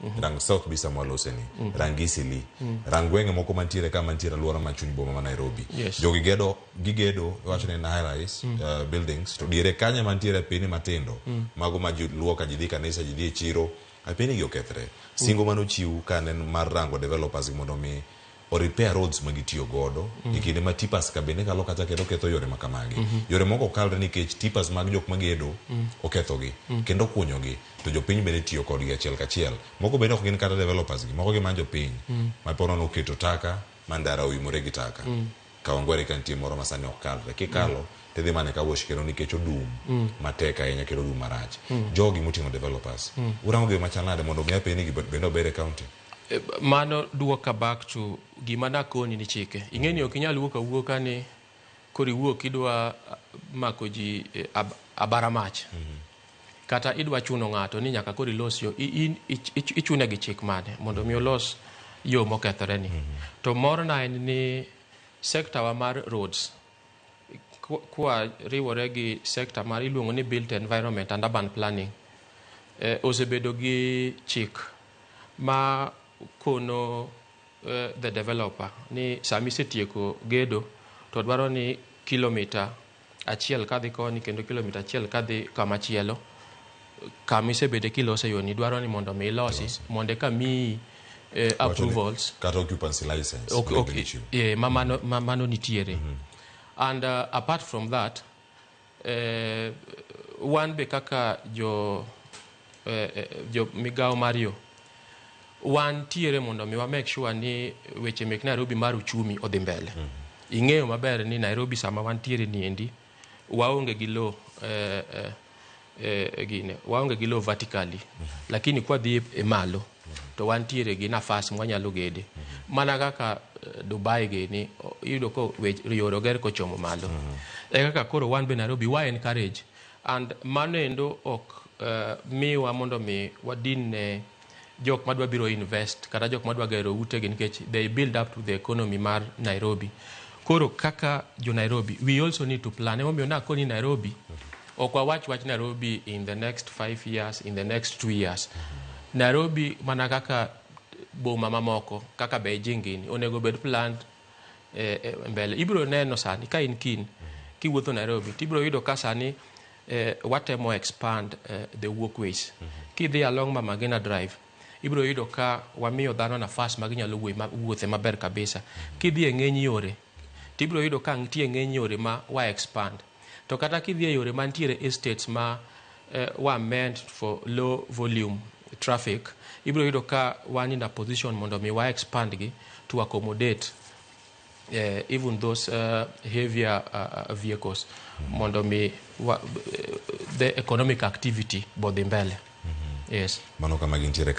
Mm-hmm. rang south bi sama lose ni mm-hmm. rang isili mm-hmm. rang gwenge moko mantiere ka mantiere alwora ma chuny boma ma nairobi yes. jogi gedo gigedo wacho ni high rise mm. uh, buildings to diere kanye mantiere pini matindo mm. mago ma ji luwo ka ji dhi kanisa ji dhi e chiro apini gi okethre mm. singo mano chiw ka ne mar rango developers mondo mi o repair roads ma gitiyo godo e kinde ma tipas ka bende kalo kacha kendo ketho yore ma kamagi yore moko ok kalre nikech tipas mag jok magedo okethogi kendo okunyogi to jopiny bende tiyo kodgi achiel kachiel moko bende ok gin kata developers gi moko gin mana jopiny ma po nono oketo taka ma ndara oimore gi taka Kawangware ka nitie moro ma sani ok kalre kikalo tidhi mana e car wash kendo nikech odum matek ahinya kendo odum marach jogi moting'o developers urango gima chal nade mondo mi apenj ni gibende ober e county Mano duoka back to gima nakoni ni chike. Ing'eni ok inyal wuok awuoka ni koro iwuok idwa mako ji eh, ab, abara mach. Kata idwa chuno ng'ato ni nyaka koro ilos yo, i- in- ich- ich- ichune gi chik mane mondo mi olos yo mokethore ni. To morna en ni sector wa mar roads kwa- kwa riwore gi sector mar iluongo ni built environment and urban planning eh, osebedo gi chik ma kono uh, the developer ni sami setieko gedo to dwaro ni kilomita achiel kadhi koni kendo kilomita achiel kadhi kama chielo kama isebede kilose yoni dwaro ni mondo mi ilosi mondo eka miyi eh, approvals kata occupancy license okay, okay. Yeah, ma mano, ma mano nitiere mm -hmm. and uh, apart from that Eh, wan be kaka jo, eh, eh, jo migawo mar yo wan tiere mondo mi wa make sure ni weche mek Nairobi mar uchumi odhi mbele. Mm -hmm. Ing'eyo maber ni Nairobi sama wan tiere ni endi waonge gi lo eh, eh, eh, gine waonge gi lo vertically mm -hmm. lakini kwa dhi e malo to wantiere gi nafas mwanyalo gede mana kaka eh, Dubai gini o- iyudo ko wech- yore oger kochomo malo e kaka koro wan be Nairobi wa encourage and mano endo ok eh, miwa mondo mi wadin ne jok madwa biro invest kata jok madwa gero utegi nikech they build up to the economy mar Nairobi koro kaka jo Nairobi we also need to plan emomiyo nakoni Nairobi Ok wawach wach Nairobi in the next five years, in the next two years. Nairobi mana kaka boma mamoko kaka Beijing gini onego bed planned eh, eh, mbele. Ibiro neno sani ka in kin kiwuotho Nairobi tibiro yudo ka sani eh, watemo expand eh, the walkways. Kidhi along Mama Ngina Drive ibiro yudo ka wamiyo dhano nafas ma ginyalo wuoye ma- wuothe maber kabisa. Kidhi e ng'eny yore tibiro yudo ka nitie ng'eny yore ma wa expand. To kata kidhi e yore mantiere estates ma were meant for low volume traffic, ibiro yudo ka wan in a position mondo mi wa expand gi to accommodate even those heavier vehicles mondo mi the economic activity be odhi mbele. Yes. Mano kama gintiere ka.